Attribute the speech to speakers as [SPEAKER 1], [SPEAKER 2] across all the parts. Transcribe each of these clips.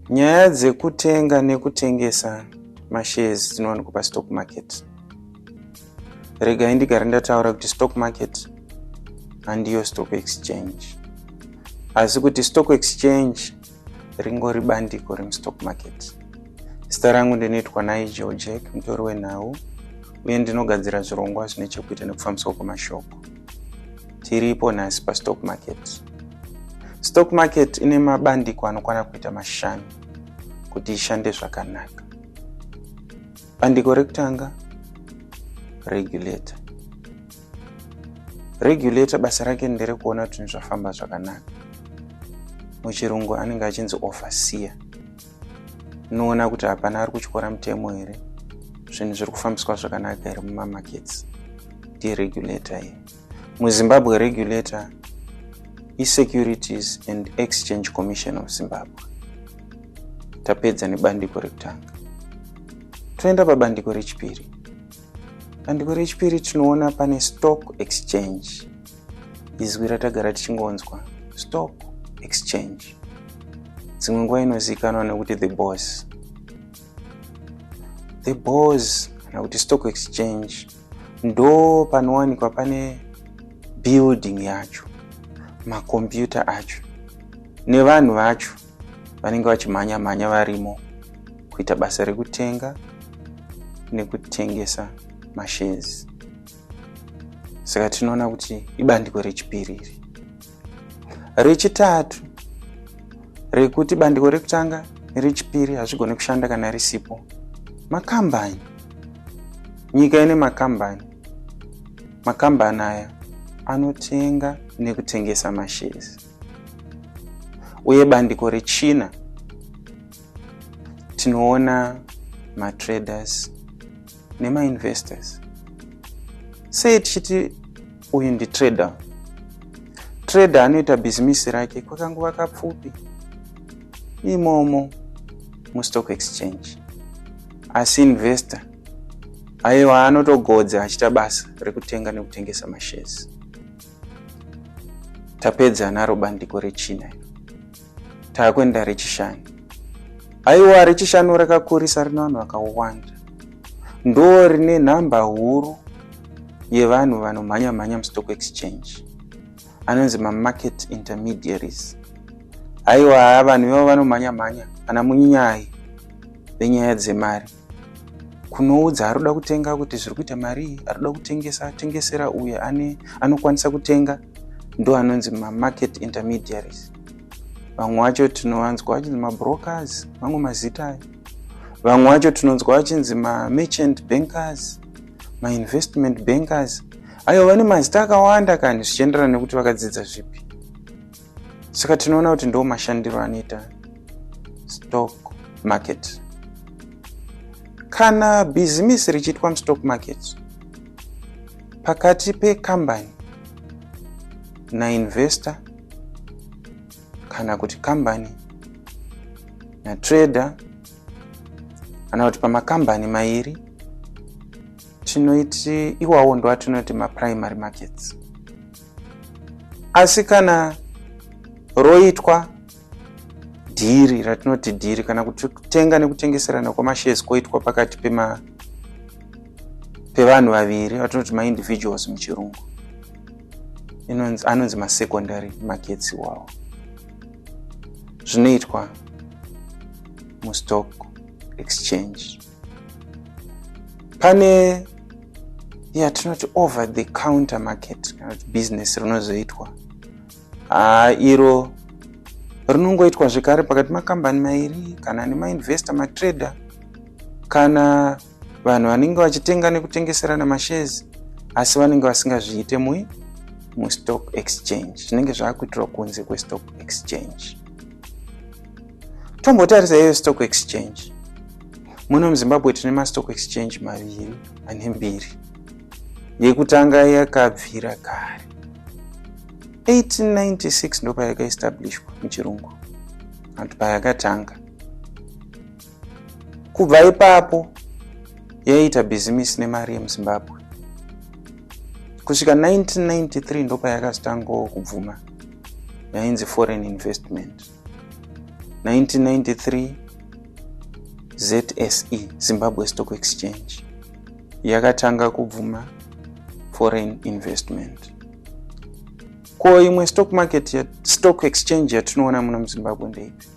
[SPEAKER 1] Nyaya dzekutenga nekutengesa mashares dzinowanikwa pastock market. Regai ndigare ndataura kuti stock market handiyo stock exchange, asi kuti stock exchange ringori bandiko remustock market. Zita rangu ndinoitwa Nigel Jack, mutori wenhau, uye ndinogadzira zvirongwa zvine chekuita nekufambiswa kwemashoko. tiripo nhasi pastock market stock market ine mabandiko anokwana kuita mashanu kuti ishande zvakanaka bandiko rekutanga regulator regulator basa rake nderekuona kuti zvinhu zvafamba zvakanaka muchirungu anenge achinzi overseer unoona kuti hapana ari kutyora mutemo here zvinhu zviri kufambiswa zvakanaka here mumamakets ndiregulator here muzimbabwe regulator isecurities and exchange commission of zimbabwe tapedza nebandiko rekutanga toenda pabandiko rechipiri Bandiko rechipiri tinoona pane stock exchange, izwi ratagara tichingonzwa stock exchange, dzimwe nguva inozivikanwa nekuti the boss. The boss kana kuti stock exchange ndo panowanikwa pane building yacho, makombiyuta acho nevanhu vacho. vanenge vachimhanya mhanya varimo kuita basa rekutenga nekutengesa mashezi saka tinoona kuti ibandiko rechipiri iri rechitatu rekuti bandiko rekutanga nerechipiri hazvigone kushanda kana risipo makambani nyika ine makambani makambani aya anotenga nekutengesa mashezi uye bandiko rechina tinoona matraders nemainvestors sei tichiti uyu nditrader trader anoita bhizimisi rake kwakanguva kapfupi imomo mustock exchange asi investor aiwa anotogodza achiita basa rekutenga nekutengesa mashezi tapedza naro bandiko rechina iro taakuenda rechishanu aiwa rechishanu rakakurisa rine vanhu vakawanda ndo rine nhamba huru yevanhu vanomhanya mhanya mustock exchange anonzi mamarket intermediaries aiwa vanhu ivavo vanomhanya mhanya ana munyayi venyaya dzemari kunoudza ari kuda kutenga kuti zviri kuita marii ari kuda kutengesa atengesera uye ane anokwanisa kutenga ndo anonzi mamarket intermediaries vamwe wacho tinowanzwa vachinzi mabrokers mamwe mazita ayo vamwe wacho tinonzwa vachinzi mamerchant bankers mainvestment bankers ayo vane mazita akawanda kani zvichienderana nekuti vakadzidza zvipi saka tinoona kuti ndo mashandiro anoita stock market kana bhizimisi richiitwa mustock market pakati pekambani nainvestor kana kuti kambani natrader kana kuti pamakambani mairi tinoiti iwawo ndoatinoti maprimary markets asi kana roitwa dhiri ratinoti dhiri kana kuti kutenga nekutengeserana kwamashares koitwa pakati pema pevanhu vaviri vatinoti maindividuals muchirungu anonzi masecondary markets iwawo zvinoitwa mustock exchange pane yatinoti over the counter market kana kuti business rinozoitwa haa iro rinongoitwa zvekare pakati makambani mairi kana nemainvestor matrader kana vanhu vanenge vachitenga nekutengeserana mashezi asi vanenge vasingazviite mui mustock exchange zvinenge zvaakuitirwa kunze kwestock exchange tombotarisa iyo stock exchange muno muzimbabwe tine mastock exchange maviri ane mbiri yekutanga yakabvira kare 1896 ndo payakaestablishwa muchirungu anti payakatanga kubva ipapo yaiita bhizimisi nemari yemuzimbabwe kusvika 1993 ndo payakazotangawo kubvuma yainzi foreign investment 1993 zse zimbabwe stock exchange yakatanga kubvuma foreign investment ko imwe stock market ya stock exchange yatinoona muno muzimbabwe ndeipi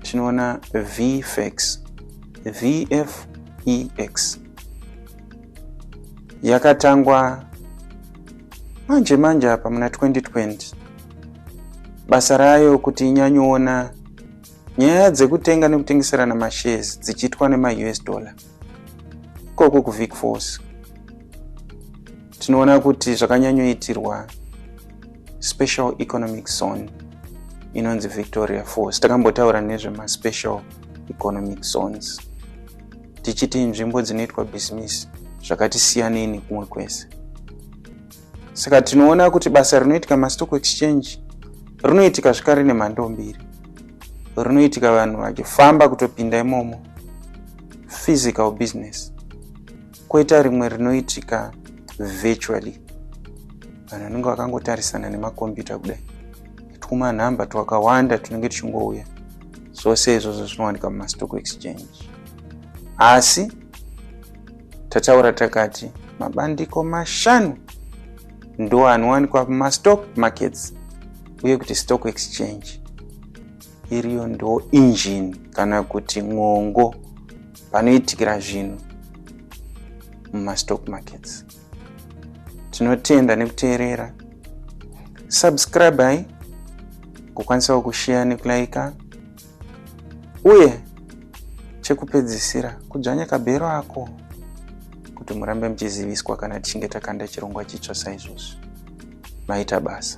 [SPEAKER 1] tinoona vfex vfex yakatangwa manje manje apa muna 2020 basa rayo kuti inyanyoona nyaya dzekutenga nekutengeserana mashares dzichiitwa nemaus dollar ikoko kuvic force tinoona kuti zvakanyanyoitirwa special economic zone inonzi victoria force takambotaura nezvemaspecial economic zones tichiti nzvimbo dzinoitwa bhizimisi zvakati siyanei nekumwe kwese saka tinoona kuti basa rinoitika mastock exchange rinoitika zvikari nemhando mbiri rinoitika vanhu vachifamba kutopinda imomo physical business koita rimwe rinoitika virtually vanhu vanenge vakangotarisana nemakombiyuta kudai twuma nhamba twakawanda tunenge tuchingouya zvose izvozvo zvinowanika mumastock exchange asi tataura takati mabandiko mashanu ndo anowanikwa mumastock markets uye kuti stock exchange iriyo ndo injini kana kuti mwongo panoitikira zvinhu mumastock markets tinotenda nekuteerera subscribai kukwanisawo kusheya nekulaika uye chekupedzisira kudzvanya kabhero ako kuti murambe muchiziviswa kana tichinge takanda chirongwa chitsva saizvozvi maita basa